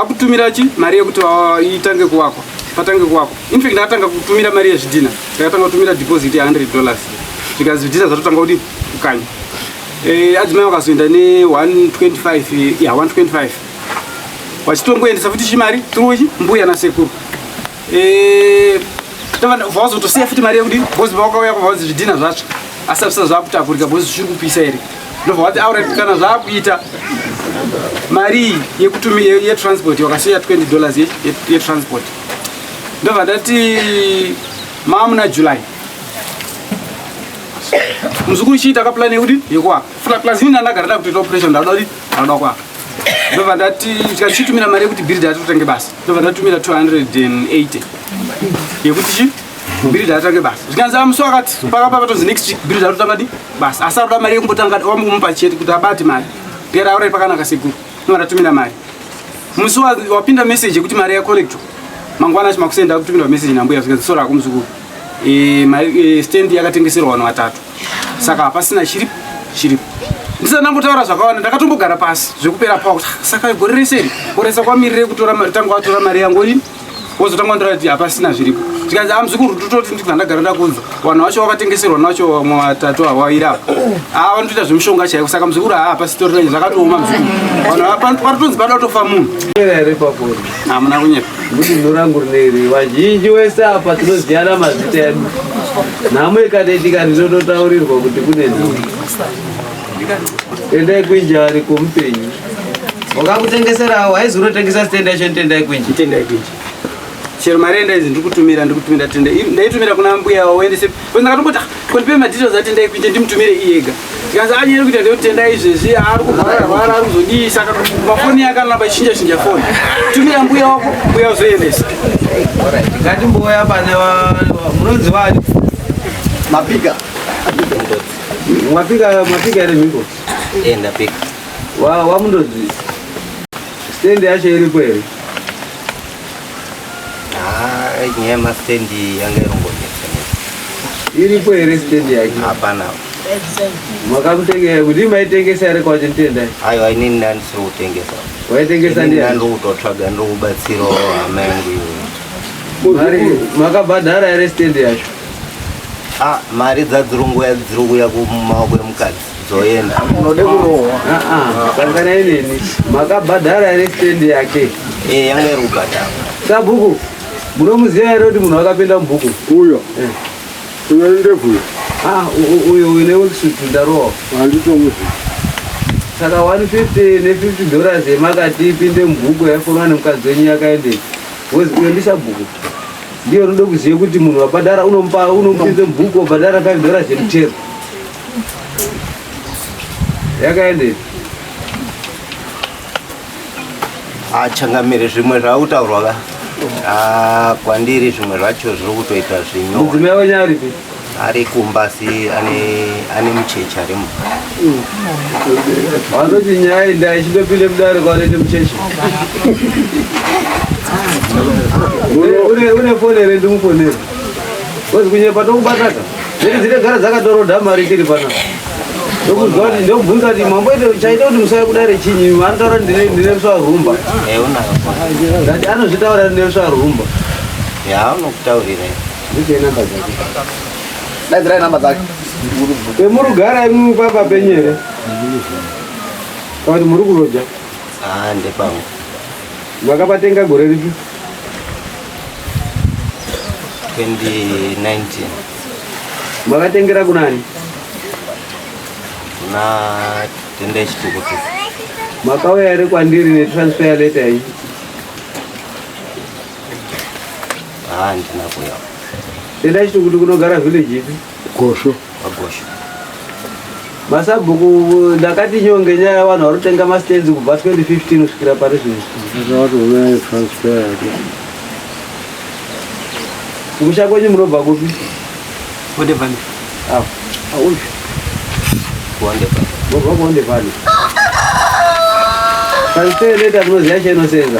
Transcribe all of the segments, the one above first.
akutumira chi mari yekuti ah, itange kuvakwa patange kuvakwa infact ndakatanga kutumira mari yezvidhina ndakatanga kutumira deposit ye 100 dollars zvikanzi zvidhina zvatotanga kudi kukanya eh, adzimai vakazoenda ne 125 ya 125 vachitongoendesa futi chimari turuchi mbuya nasekuru Eh, vazotosiya futi mari yekudii bcoz vakauya kwavazi zvidhina zvacho asi apisa zvakutakurika bcoz zviri kupisa here ndobva vati aura kana zvakuita mari yekutumi yetransport wakasiya 20 dollars yetransport ndobva ndati mamuna july muzukuru chii takaplan yekudii yekuwaka funa plus ini ndandagara ndakutoita operation ndakuda kudii ndakuda kuwaka ndobva ndati tikachitumira mari yekuti bhiridha atotange basa ndobva ndatumira 280 yekuti chi bhiridha atange basa zvikanzi amusi wakati pakapa patonzi next week bhiridha atotanga di basa asi aroda mari yekumbotanga wamukumupa chete kuti abate mari pera aurai pakanaka sekuru ndobva ndatumira mari musi wapinda message yekuti mari yacollecto mangwana achi makusenda kutumira message nambuya zvikanzi sora kumuzukuru e, ma, e, stand yakatengeserwa vanhu vatatu saka hapasina chiri chiripo ndisati ndambotaura zvakawanda ndakatombogara pasi zvekupera pawa kuti "Ah, saka gore rese iri koresa kwamirire kutora mari- tanga watora mari yangu ini wozotanga wandiratidza kuti hapasina zviripo zvikanzi a muzukuru tototi ndibva ndagara ndakunza vanhu vacho vakatengeserwa vanhu vacho vamwe vatatu havaira apa a vanotoita zvemushonga chaiko saka muzukuru haa hapasitorira zvakatooma muzukuru vanhu hava- panotonzi panotofa munhu hamuna kunyepa kuti zino rangu rineri vazhinji wese apa tinoziyana mazita edu nhamo ikadedika ndinototaurirwa kuti kune nhamo tendai kwinja ari kumupenyu wakakutengeserawo haizi unotengesa sitenda yacho nditendai kwinji tendai kwinji chero mari endaizi ndikutumira ndikutumira tende ndaitumira kuna mbuya waendese Ko ndakatongoti ah, ko ndipe madetails atendai kuite ndimutumire iyega. Ndikanzi anyere kuita ndekuti tendai izvezvi ari kurwara rwara ari kuzodii saka mafoni yake anoramba ichinja chinja foni. Tumira mbuya wako mbuya uzoendesa. Ngati mbuya pane munonzi wani? Mapika. Mapika mapika ere mimbo? Eh ndapika. Wa wa mundozi. Stand yacho iripo here? Haa, nyaya yemastand yanga irongonetsa netsa. Iripo here stand yake? Hapana. Makamutengesa kuti maitengesa here kwacho nditenda? Aiwa inini ndandisiri kutengesa. Waitengesa Inini ndiani? ndandokutotsvaga ndokubatsirawo hama yangu iwe. Mari makabhadhara here stand yacho? Ah, mari dzadzirungu dziri kuuya kumaoko emukadzi. Zoenda. Unode kurohwa. Ah, Sangana inini. Makabhadhara here stand yake? Eh, yanga iri kubhadhara. Sabhuku, munomuziva here kuti munhu akapinda mubhuku? Uyo. Eh. Uyo ndebvu uyo. Ah, uyo uyo newesutu ndarohwa. Handitomuziva. Saka 150 ne50 dollars yemakati ipinde mubhuku yaifonwa nemukadzi wenyu yakaendei? Wozi uyo ndisabhuku. Ndiyo unoda kuziva kuti munhu wabhadhara unomupa unomupinze mubhuku wabhadhara 5 dollars yemuchero. yakaende achangamire zvimwe zvaakutaurwa ka ah, kwandiri zvimwe zvacho zviri kutoita zvino mudzimai wenyu aripi ari kumba asi ane mucheche arimo vanoti nyaya iyi ndayichindopinde mudare kwanoite mucheche une foni here ndimufonere Wezi kunyepa tokubatata. Zviri dzine gara dzakatoroda mari tiri pana. Ndokuzwa kuti ndobvunza kuti mambo ite chaita kuti musaya kudare chinyi vanotaura kuti ndine ndine ruswa rumba. Eh unayo. Ndati anozvitaura kuti ndine ruswa rumba. Ya unokutaurira. Ndicho namba dzake. Daidzirai namba dzake. Emurugara imimi papa penyere. Kana kuti muri kuroja. Ah ndepangu. Makapatenga gore ripi? 2019. Makatengera kunani? Kuna tende chitukutu. Makauya here kwandiri netransfer letter iyi? Ah, ndina kuya. Tenda chitukutu kunogara village ipi? Gosho. Agosho. Masabhuku ndakati nyonge nyaya yavanhu vari kutenga mastands kubva 2015 kusvikira pari zvino. Zvakatoona transfer yake. Kumusha kwenyu munobva kupi? Kondevani. Ah, auyu. Kondevani. Munobva Kondevani. Transfer leta munoziva chainosenza.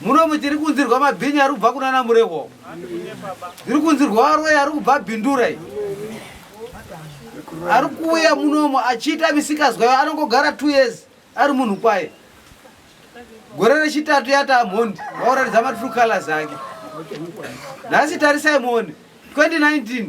Muno muchiri kunzirwa mabhinya ari kubva kunana Murehwa. Ndiri kunzirwa varoyi ari kubva Bindura. Ari kuuya munomu achiita misikazwa yo anongogara 2 years ari munhu kwaye. Gore rechitatu yata mhondi vaoratidza matrue colors ake. Nhasi tarisai muone 2019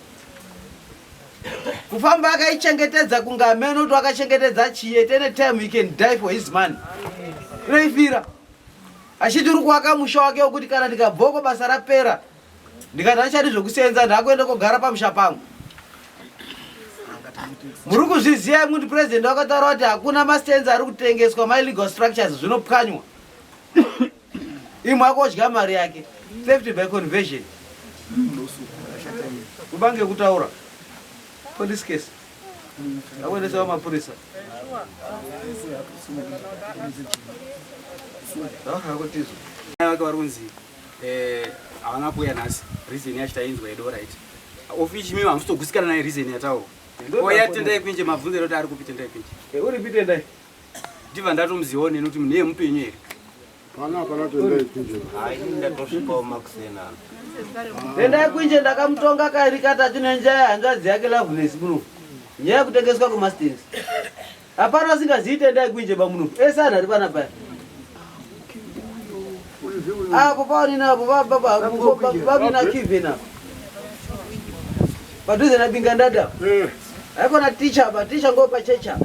kufamba akaichengetedza kunge amene kuti wakachengetedza chiyete any time he can die for his money reifira achiti uri kuwaka musha wake wekuti kana ndikabvoko basa rapera ndikati hachadi zvekuseenza ndaakuenda kogara pamusha pangu muri kuzviziva imwe kuti purezidendi wakataura kuti hakuna mastenzi ari kutengeswa my legal structures zvinopwanywa imwe akodya mari yake theft by conversion kubange kutaura police case akuendesa vamapurisa akutizo vake vari kunzi eh, havana kuuya nhasi reason yacho tainzwa yedo right ofichi mimi hamusitogusikana naye reason yataurwa oya tendai kwinje mabvunzo eroti ari kupi tendai kwinje eh, uri pitendai ndiva ndatomuzivawo neni kuti munhu yemupenyu here endai kwinje ndakamutonga kairi katatu nenjaya hanzvadzi yake loveness munofu nyaya yekutengeswa kwemastens hapana asingaziite endai kwinje bamunofu ese anhu ari pana paya Apo paani napo baba baba na Kevin napo. Padhuze na binga ndada. Eh. Haiko na teacher ba teacher ngo pa checha.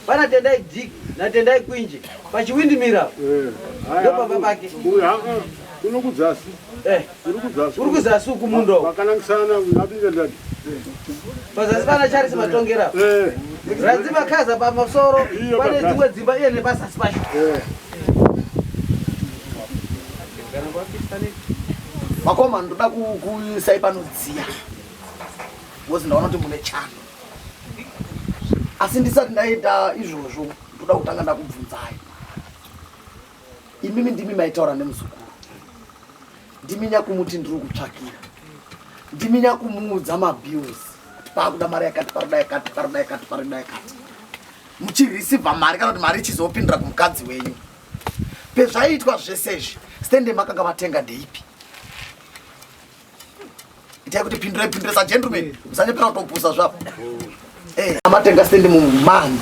Pana tendai dik na tendai kwinje. Pa chiwindi mira. Eh. Ndo baba bake. Uya. Unokudzasi. Eh. Uri kuzasi uku mundo. Vakanangisana nabiga dad. Pazasi pana Charles Matongera. Eh. Ranzi makaza pamasoro pane dzimwe dzimba iye nepazasi pacho. Eh. Makoma ndoda kuisai panodziya. Wozi ndaona kuti mune chando. Asi ndisati ndaita izvozvo ndoda kutanga ndakubvunzai. imimi ndimi maitaura nemuzukuru ndimi nyakumuti ndiri kutsvakira ndimi nyakumuudza mabills kuti paakuda mari yakati parida yakati parida yakati parida yakati muchirisivha mari kana kuti mari ichizopindira kumukadzi wenyu pezvaiitwa zvese izvi stende makanga matenga ndeipi itai kuti pindurai pindure sagentleman musanyepera kutopusa zvapo eh, amatenga stendi mumani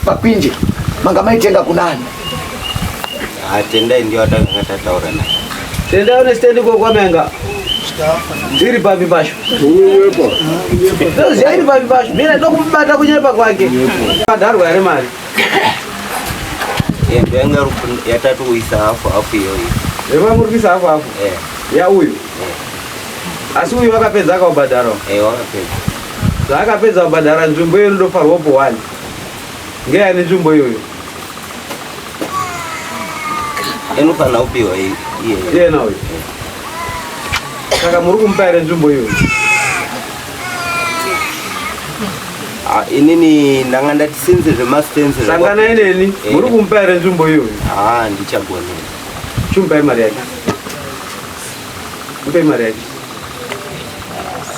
pakwinje manga maitenga kunani atendai ah, ndio atanga tataura naye tendai une stendi kokwamenga iri papi pasho ndoziva iri papi pasho mina ndokubata kunyepa kwake padharwa here mari Yendo yanga rup- yatatu kuisa hafu hafu iyoyo Zvema muri kuisa hafu hafu. eh Ya uyu. Eh. Asi uyu akapedza akaubhadhara. eh wakapedza Zvaakapedza kubhadhara nzvimbo iyo inotofarwa po one. Ngeya ane nzvimbo iyoyo. inofanira kupiwa i- iyeyo Iyena uyu. Saka muri kumupa here nzvimbo iyoyo? Ah, inini ndanga ndati sinzi zvemastenzi sangana ineni eh. muri kumupa here nzvimbo iyoyo haa ah, ndichagona chimupai mari yake mupai mari yake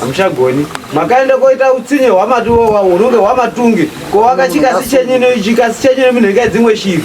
hamuchagoni makaenda koita utsinye hwamati wowa unonge hwamatungi ko wakachikasi chenyino chikasi chenyino minhu ika dzimwe shiri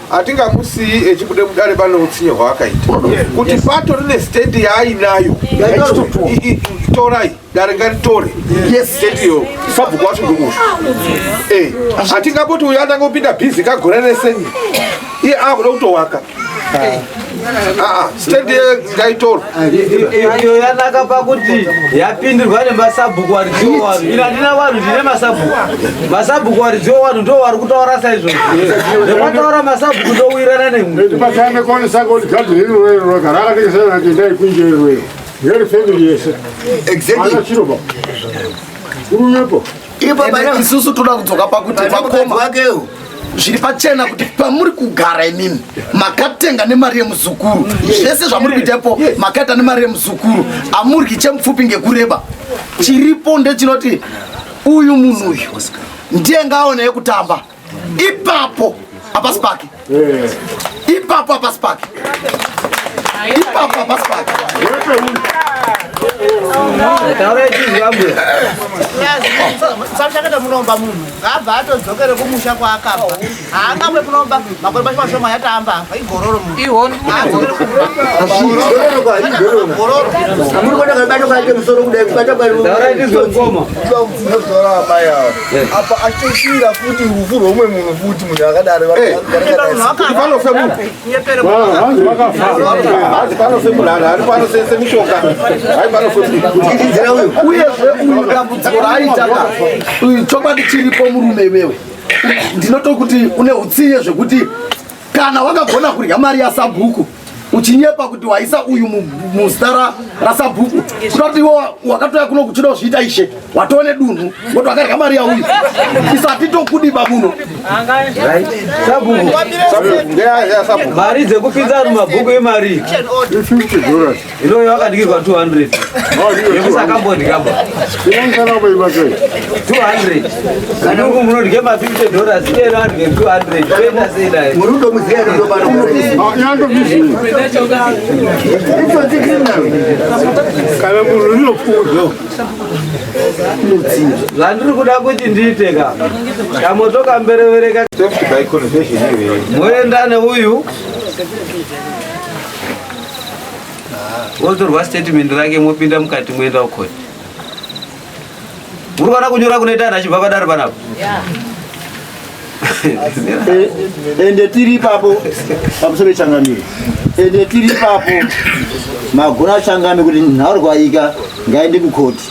hatingamusiyi echibude mudare pane utsinye hwaakaita kuti pato rine state yaainayo torai dare ngaritore state iyo sabhuku wacho ndokuti eh, hatingapoti uyo atanga kupinda bhizi kagore rese iye akuda kutowaka ah. Ah, stand here ngaitoro iyo yanaka pakuti yapindirwa nemasabhuku waridziwo wanhu ini handina vanhu ndine masabhuku masabhuku waridziwo wanhu ndo wari kutaura saizvozvo nekwataura masabhuku ndowirana nemwe tipatange kone sako ligado hiri rwero rogara akatekesana nati ndaikunje rwero ngeri family yese exactly anachirova urumepo ipapa isusu toda kudzoka pakuti vakoma vakeo zviri pachena kuti pamuri kugara imimi makatenga nemari yemuzukuru zvese zvamuri kuita ipo makaita nemari yemuzukuru amuryi chemupfupi ngekureba chiripo ndechinoti uyu munhu uyu ndiye ngaaone yekutamba ipapo hapasi pake ipapo hapasi pake ipapo hapasi pake sachakata munomba munhu abva atodzokere kumusha kwaakabva haangamwe kunomba makore macho mashoma yataamba apa igororo munhuamuri kuona kabato kake musoro kudai kubata kwaoaai apa achitosvira futi rufu rweumwe munhu futi munhu akadari vanofe munhuvanofe munhu anhu ari panosese mishonga hai panofemuiidzira uyu uyezve uyu dambudziko raaitaka uyu chokwadi chiripo murume iwewe ndinotokuti une utsinye zvekuti kana wakagona kurya mari yasabhuku uchinyepa kuti waisa uyu muzita rasabhuku kuda kuti iwo wakatoya kuno kuchida kuzviita ishe watoo nedunhu woti wakarya mari yauyu isati tokudi babuno mari dzekupinza mumabhuku imari Ino uyo akadyirwa 200 yekusakambodya ba 200 kana uku munodya ma 50 dollars iyero adye 200 toenda sei naye muri kutomuziya kana munhu rinofudzo zvandiri kuda kuti ndiite ka kamotokamberevereka moenda neuyu wotorwa statement rake mopinda mukati moenda kukoti muri kuona kunyora kunoita anhu achibva padaro panapo ende tiri ipapo pamusoro pechangamire ende tiri ipapo magona achangamire kuti nhaurwaika ngaende kukoti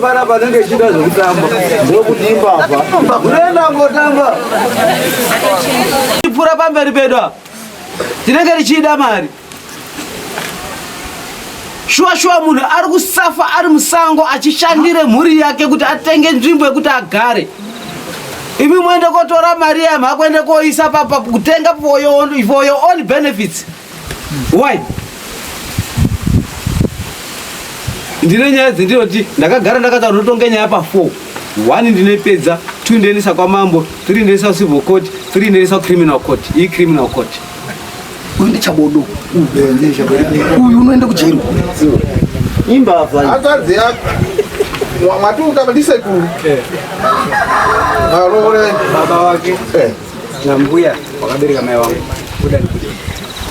Para panenge chida zvekutamba ndokudimba apa kunoenda ngotamba ipfura pamberi pedu apa tinenge tichiida mari shuwa shuwa munhu ari kusafa ari musango achishandire mhuri yake kuti atenge nzvimbo yekuti agare imi moende kotora mari yam hakuende koisa papa kutenga for your own benefits why ndine nyaya dzendinoti ndakagara ndakataura ndotonge nyaya pa four one ndinepedza two ndoendesa kwamambo three ndoendesa civil court three ndoendesa criminal court iyi criminal court uyu ndichabodo uyu unoenda kujeri imbavha hanzvadzi yako mwati ukava ndisekuru varoore baba wake nambuya wakabereka mai wangu kuda nikuda